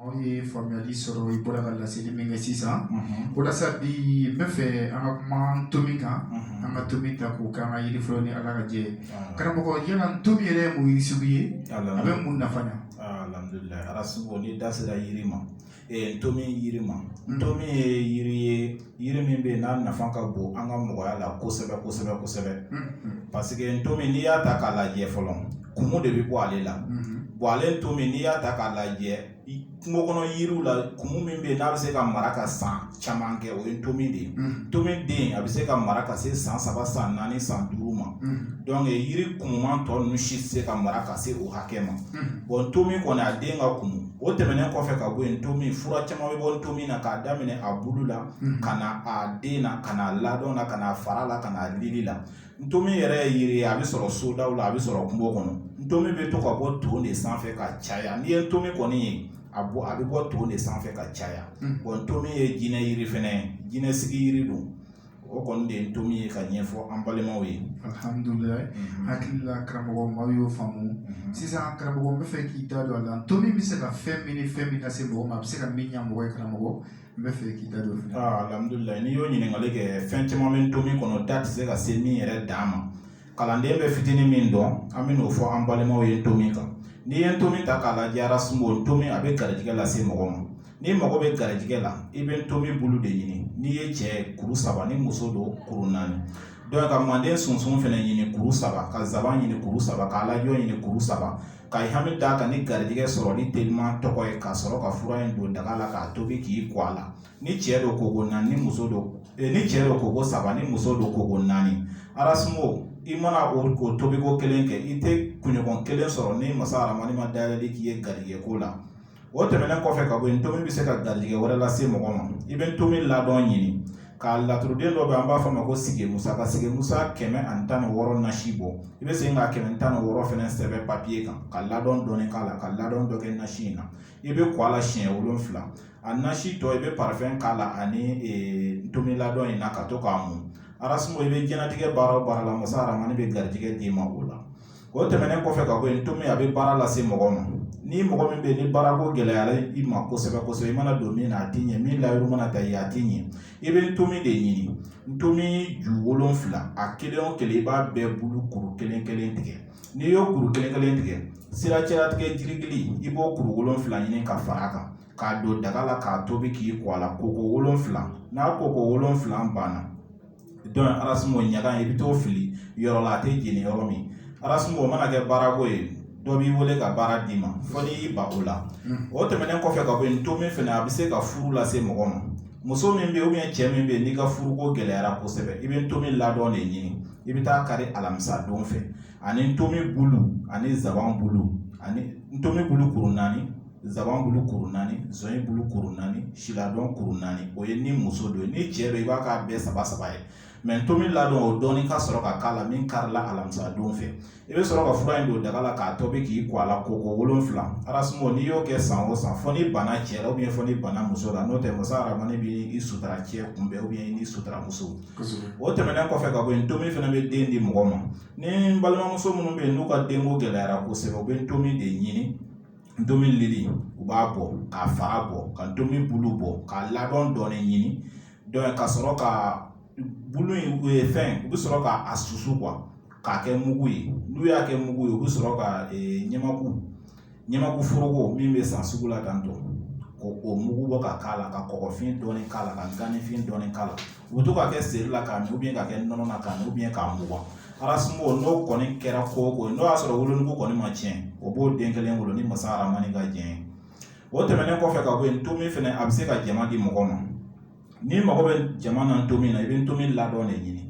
Anw ye faamuyali sɔrɔ i bɔra ka laseli min kɛ sisan o la sa bi n bɛ fɛ an ka kuma ntomi kan an ka ntomi ta k'o kɛ an ka yiri fɔlɔ ni ala ka jɛ karamɔgɔ yala ntomi yɛrɛ ye mun yiri sugu ye a bɛ mun nafa ɲɛ alhamdulila ala sugu ni da sera yiri ma ntomi yiri ma ntomi ye yiri ye yiri min bɛ yen n'a nafa ka bon an ka mɔgɔya la kosɛbɛ kosɛbɛ kosɛbɛ parce que ntomi n'i y'a ta k'a lajɛ fɔlɔ kumu de bɛ bɔ ale la bon ale ntomi n'i y'a ta k'a lajɛ kungo kɔnɔ yiriw la kumu min bɛ yen n'a bɛ se ka mara ka san caman kɛ o ye ntomi de ye ntomi den a bɛ se ka mara ka se san saba san naani san duuru ma donc yiri kumuman tɔ ninnu si tɛ se ka mara ka se o hakɛ ma bon ntomi kɔni a den ka kumu o tɛmɛnen kɔfɛ ka bɔ yen ntomi fura caman bɛ bɔ ntomi na k'a daminɛ a bulu la ka na a den na ka na ladɔn na ka na fara la ka na lili la ntomi yɛrɛ ye yiri ye a bɛ sɔrɔ sodaw la a bɛ sɔrɔ kungo kɔnɔ ntomi bɛ to ka bɔ ton de sanfɛ ka caya n'i ye ntomi kɔni ye a bɛ bɔ ton de sanfɛ ka caya bon ntomi ye jinɛ yiri fɛnɛ ye jinɛ sigi yiri don o kɔni de ye ntomi ye ka ɲɛfɔ an balimaw ye alihamudulila mhm. hakili la karamɔgɔ maaw y'o faamu mhm. sisan karamɔgɔ n bɛ fɛ k'i da don a la ntomi bɛ se ka fɛn min ni fɛn min lase mɔgɔ ma a bɛ se ka min ɲa mɔgɔ ye karamɔgɔ n bɛ fɛ k'i da don fɛnɛ ah, alihamudulila n'i y'o ɲininkali kɛ fɛn caman bɛ ntomi kɔnɔ da tɛ se ka se min yɛrɛ dan ma kalanden bɛ fitinin min dɔn an bɛ n'o fɔ an balimaw ye ntomi kan n'i ye ntomi ta k'a lajɛ arasimo ntomi a bɛ garijɛgɛ lase mɔgɔ ma n'i mago bɛ garijɛgɛ la i bɛ ntomi bulu de ɲini n'i ye cɛ kuru saba ni muso don kuru naani donc ka manden sunsun fɛnɛ ɲini kuru saba ka zaban ɲini kuru saba ka alajɔ ɲini kuru saba ka i hami d'a kan ni garijɛgɛ sɔrɔli teliman tɔgɔ ye ka sɔrɔ ka fura in don daga la k'a tobi k'i ko a la ni cɛ don koko naani ni muso don eh, ni cɛ don koko saba ni muso don koko naani arasumo i mana o o tobiko kelen kɛ i tɛ kunɲɔgɔn kelen sɔrɔ ni masa aramani ma dayɛlɛli k'i ye garijɛgɛ ko la o tɛmɛnen kɔfɛ ka bɔ yen ntomi bɛ se ka garijɛgɛ wɛrɛ lase mɔgɔ ma i bɛ ntomi ladɔn ɲini ka laturuden dɔ bɛ an b'a fɔ a ma ko sigi musa ka sigi musa kɛmɛ ani tan ni wɔɔrɔ nasi bɔ i bɛ segin ka kɛmɛ tan ni wɔɔrɔ fɛnɛ sɛbɛn papiye kan ka ladɔn dɔɔni k'a la ka ladɔn dɔ kɛ nasi in na i bɛ ko a la siɲɛ wolonfila a nasi tɔ i bɛ parfum k'a la ani ntomi ladɔn in na ka to k'a mun arasimo i bɛ jɛnatigɛ baara o baara la masa aramani bɛ garijɛgɛ d'i ma o la o tɛmɛnen kɔfɛ ka bɔ yen ntomi a bɛ baara lase mɔgɔ ma ni mɔgɔ min bɛ yen ni baarako gɛlɛyara i ma kosɛbɛ kosɛbɛ i mana don min na a tɛ ɲɛ min layiru mana ta i ye a tɛ ɲɛ i bɛ ntomi de ɲini ntomi ju wolonfila a kelen o kelen i b'a bɛɛ bulu kuru kelen kelen tigɛ n'i y'o kuru kelen kelen tigɛ sira cɛlatigɛ jiri gili i b'o kuru wolonfila ɲini ka fara a kan k'a don daga la k'a tobi k'i ko a la koko wolonfila n'a koko wolonfila banna dɔn arasumo ɲaga i bɛ t'o fili yɔrɔ la a tɛ jeni yɔrɔ min arasumo o mana kɛ baarako ye dɔ b'i wele ka baara d'i ma fɔ n'i y'i ban o la o tɛmɛnen kɔfɛ ka bɔ yen ntomi fɛnɛ a bɛ se ka furu lase mɔgɔ ma muso min bɛ yen ubiyɛn cɛ min bɛ yen n'i ka furuko gɛlɛyara kosɛbɛ i bɛ ntomi ladɔn de ɲini i bɛ taa kari alamisa don fɛ ani ntomi bulu ani nsaban bulu ani ntomi bulu kuru naani nsaban bulu kuru naani zɔnɲɛ bulu kuru naani si ladɔn kuru naani o ye ni muso don ni cɛ don i b'a k'a bɛɛ saba saba ye ntomi ladɔn o dɔɔni ka sɔrɔ ka k'a la min karila alamisa don fɛ i bɛ sɔrɔ ka fura in don daga la k'a tobi k'i ko a la koko wolonfila arasumo n'i y'o kɛ san o san fɔ n'i banna cɛ la ubiyɛn fɔ n'i banna muso la n'o tɛ masa aramani bɛ i sutura cɛ kunbɛn ubiyɛn i n'i sutura muso o tɛmɛnen kɔfɛ ka bɔ yen ntomi fɛnɛ bɛ den di mɔgɔ ma ni balimamuso minnu bɛ yen n'u ka denko gɛlɛyara kosɛbɛ u bɛ ntomi de ɲini ntomi lili u b'a bɔ k'a fara bɔ ka ntomi bulu bɔ k'a ladɔn dɔɔni ɲini dɔn ka sɔrɔ ka bulu in fɛn u bɛ sɔrɔ ka a susu kuwa k'a kɛ mugu ye n'u y'a kɛ mugu ye u bɛ sɔrɔ ka ɲamaku ɲamaku foroko min bɛ san sugu la dan dɔn k'o mugu bɔ ka k'a la ka kɔgɔfin dɔɔni k'a la ka ganifin dɔɔni k'a la u bɛ to k'a kɛ seri la k'a min ubiyɛn k'a kɛ nɔnɔ na k'a min ubiyɛn k'a mugan arasumo n'o kɔni kɛra ko o ko n'o y'a sɔrɔ wolonugu kɔni ma tiɲɛ o b'o den kelen wolo ni masa aramani ka jɛn o tɛmɛnen kɔfɛ ka bɔ yen ntomi fɛnɛ a bɛ se ka jama di mɔgɔ ma n'i mago bɛ jama na ntomi na i bɛ ntomi ladɔn de ɲini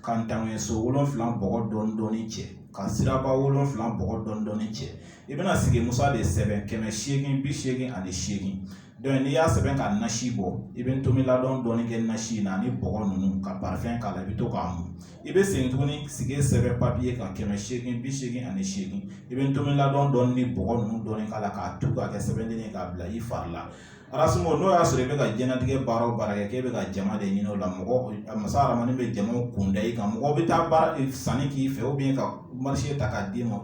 ka ntaŋɛ so wolonfila bɔgɔ dɔɔni dɔɔni cɛ ka siraba wolonfila bɔgɔ dɔɔni dɔɔni cɛ i bɛna sigi musa de sɛbɛn kɛmɛ seegin bi seegin ani seegin dɔn n'i y'a sɛbɛn ka nasi bɔ i bɛ ntomi ladɔn dɔɔni kɛ nasi in na ani bɔgɔ ninnu ka parifɛn k'a la i bɛ to k'a mun i bɛ segin tuguni sigi sɛbɛn papiye kan kɛmɛ seegin bi seegin ani seegin i bɛ ntomi ladɔn dɔɔni ni bɔgɔ ninnu dɔɔni k'a la k'a tu k'a kɛ sɛbɛnden ye k'a bila i fari la arasumo n'o y'a sɔrɔ i bɛ ka jɛnatigɛ baara o baara kɛ k'e bɛ ka jama de ɲini o la mɔgɔ masa aramani bɛ jamaw kunda i kan mɔgɔ bɛ taa baara sanni k'i fɛ ubiyɛn ka marise ta k'a d'i ma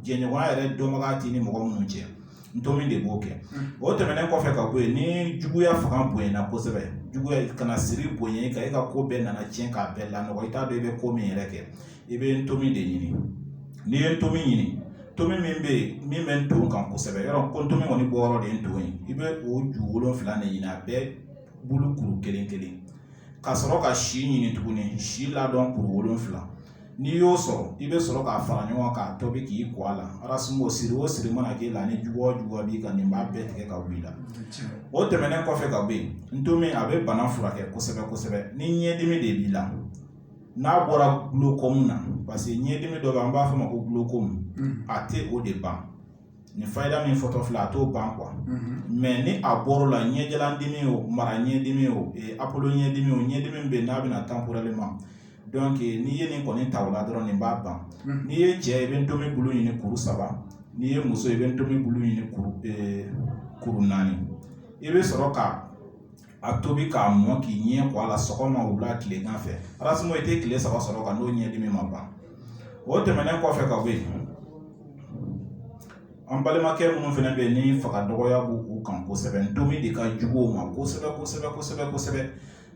jɛɲɔgɔnya yɛrɛ dɔnbaga t'i ni mɔgɔ minnu cɛ ntomi de b'o kɛ o tɛmɛnen kɔfɛ ka bɔ yen ni juguya fanga bonyana kosɛbɛ juguya kana siri bonya ka e ka ko bɛɛ nana tiɲɛ k'a bɛɛ lanɔgɔ i t'a dɔn i bɛ ko min yɛrɛ kɛ i bɛ ntomi de ɲini n'i ye ntomi ɲini ntomi min bɛ yen min bɛ nton kan kosɛbɛ yɔrɔ ko ntomi kɔni bɔ yɔrɔ de ye nton ye i bɛ o ju wolonfila de ɲini a bɛɛ bulu kuru kelen kelen ka sɔrɔ ka si ɲini tuguni si ladɔn kuru wolonfila n'i y'o sɔrɔ i bɛ sɔrɔ k'a fara ɲɔgɔn k'a tobi k'i ko a la arasumo siri o siri mana k'i la ni juguya b'i kan nin b'a bɛɛ tigɛ ka bɔ i la o tɛmɛnen kɔfɛ ka bɔ yen ntomi a bɛ bana furakɛ kosɛbɛ kosɛbɛ ni ɲɛdimi de b'i la n'a bɔra glaucome na parce que ɲɛdimi dɔ bɛ an b'a fɔ a ma ko glaucome a tɛ o de ban nin fayida min fɔtɔ filɛ a t'o ban quoi mais ni a bɔr'o la ɲɛjalandimi o mara ɲɛdimi o apolo ɲɛdimi o ɲɛdimi bɛ n'a bɛna temporellement donc n'i ye nin kɔni ta o la dɔrɔn nin b'a ban n'i ye cɛ i bɛ ntomi bulu ɲini kuru saba n'i ye muso i bɛ ntomi bulu ɲini kuru naani i bɛ sɔrɔ ka a tobi k'a mɔ k'i ɲɛ ko a la sɔgɔma wula tilegan fɛ arasumo i tɛ tile saba sɔrɔ ka n'o ɲɛdimi ma ban o tɛmɛnen kɔfɛ ka bɔ yen an balimakɛ minnu fana bɛ yen ni faga dɔgɔya b'u kan kosɛbɛ ntomi de ka jugu o ma kosɛbɛ kosɛbɛ kosɛbɛ kosɛbɛ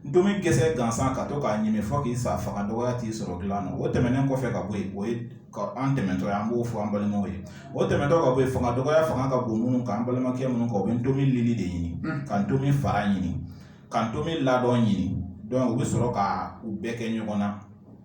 ntomi gɛsɛ gansan ka to k'a ɲimi fɔ k'i sa faga dɔgɔya t'i sɔrɔ dilan na o tɛmɛnen kɔfɛ ka bɔ yen o ye an tɛmɛtɔ ye an b'o fɔ an balimaw ye o tɛmɛtɔ ka bɔ yen fanga dɔgɔya fanga ka bon minnu kan an balimakɛ minnu kan u bɛ ntomi lili de ɲini ka ntomi fara ɲini ka ntomi ladɔn ɲini donc u bɛ sɔrɔ ka u bɛɛ kɛ ɲɔgɔn na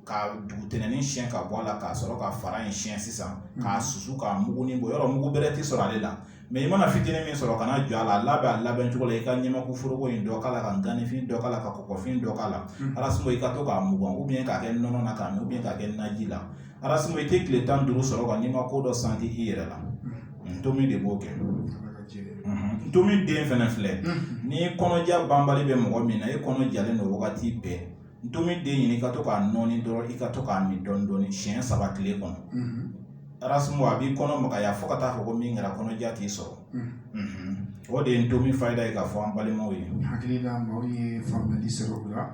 ka dugutɛnɛni siyɛn ka bɔ a la k'a sɔrɔ ka fara in siyɛn sisan k'a susu k'a mugunin bɔ yɔrɔ mugu bɛrɛ tɛ sɔrɔ ale la mais i mana fitinin min sɔrɔ kana jɔ a la a labɛn a labɛn cogo la i ka ɲamaku foroko in dɔ k'a la ka ganifin dɔ k'a la ka kɔkɔfin dɔ k'a la arasumo i ka to k'a mugan ou bien k'a kɛ nɔnɔ na k'a min ou bien k'a kɛ naji la arasumo i tɛ tile tan duuru sɔrɔ ka n'i ma ko dɔ santi i yɛrɛ la ntomi de b'o kɛ ntomi den fana filɛ ni kɔnɔja banbali bɛ mɔgɔ min na e kɔnɔ jalen don wagati bɛɛ ntomi den ɲini i ka to k'a nɔɔni dɔrɔn i ka to k'a min dɔɔni dɔɔni siɲɛ saba tile kɔnɔ arasumo a b'i kɔnɔ magaya fo ka taa fɔ ko min kɛra kɔnɔja t'i sɔrɔ o de ye ntomi fayida ye k'a fɔ an balimaw ye hakili la maaw ye faamuya sɔrɔ o la